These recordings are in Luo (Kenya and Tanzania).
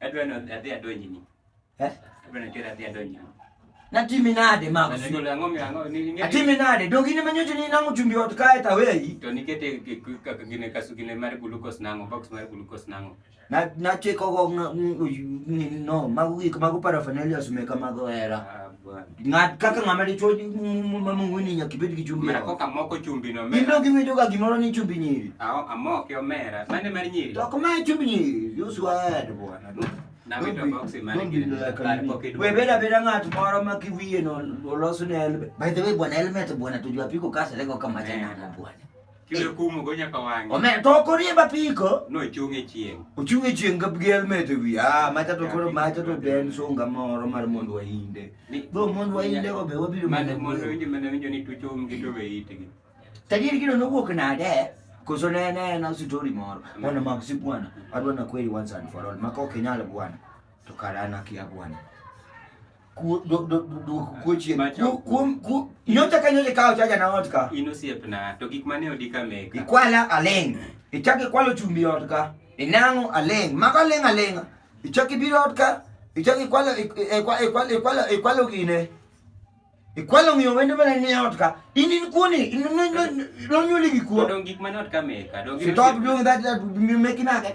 Adwa ni adhi adonjni. Eh? Adwa ni kera adhi adonjni. Natimi nade mama? Ndio le ngomi ango ni ngeti. Atimi nade? Dongi ni manyoto ni nangu chumbi watu kae ta weyi. To nikete kakagine kasugine mari glucose nango box mari glucose nango. Na na cheko go no magu gik magu paraphernalia sumeka mago era. Ah, Bwana. Ng'at kaka ng'ama dichwo mang'weni nyaka ibed gi chumbi. Mara koka moko chumbi no mera. Indo giwinjo ga gimoro ni chumbi nyiri. Ao amoke omera. Mane mar nyiri. To kuma chumbi nyiri. Use word bwana. Webeda beda ng'at moro ma kiwiye no olosne helmet. By the way bwana helmet bwana tujua piko kasa lego kama jana bwana. Kendo kumo go nyaka wang'e. Omer to okorie bapiko. No chunge chieng. Ochunge chieng gab gel mete wi. Ah macha to koro macha to den sunga moro mar mondo wainde. Bo mondo wainde obe wabiro mana mondo winjo mana winjo ni tucho um gi to be itgi. Tajiri kino nowuok nade? Koso ne ne na story moro. Mwana mag si bwana. Adwa na kweli once and for all. Mako kinyalo bwana. To karana kia bwana. ku- do- do- do- duoko kuo chien Macho. Ku- kuom ku- nyocha ka nyocha ikawo chaja na ot ka In osiepna, to gik mane odi ka meka. ikwala aling ichak ikwalo chumbi ot ka inang'o aling mago aling alinga ichak ibiro ot ka ichak ikwalo ik- ikwa- ikwalo ikwalo ikwalo gine ikwalo ng'iyo wende mane ni ot ka in in kuoni in- no- no- nonyuoli gi kuo Odong' gik mane ot ka meka. Dong' stop doing that that you making age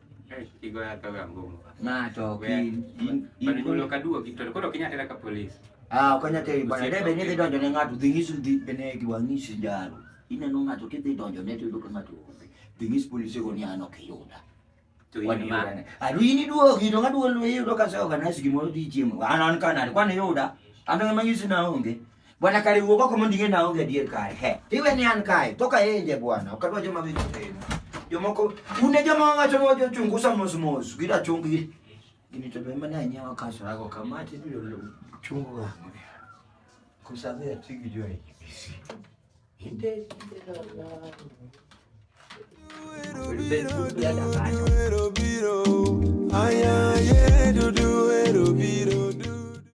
Eh, kigoyo akawe ang'ongo. Ng'ato ok Wer. in- in- Bana in- nyulo kaduogi to koro ok inyal tera ka polis. Ah, ok onyal teri bana. Osiep- Debe ni dhi donjo ne ng'ato, dhi ng'isu dhi bene gi wang'isi jalo. Ineno ng'ato kidhi donjo ne to yudo ka ng'ato onge. Dhi ng'is polise go ni an ok iyuda. To in Wan ma. iyuda. Adu in iduogi to ng'aduol iyudo ka se organize gimoro dhi chiemo. An an kanade, kwan iyuda. An ema ng'isi na onge. Bwana kare wuog oko mondo ing'e na onge adier kare. He. Iwe ni an kae, to ka enje bwana, ok adwa joma winjo piny. Jomoko une joma wacho ni wajo chungusa mos mos, gida chungi. Gini to be mane anyawa kaso rago kama ti biro lu chungu ga. Kusabe atigi jo ai. Inde Ero biro, aya ye dudu ero biro.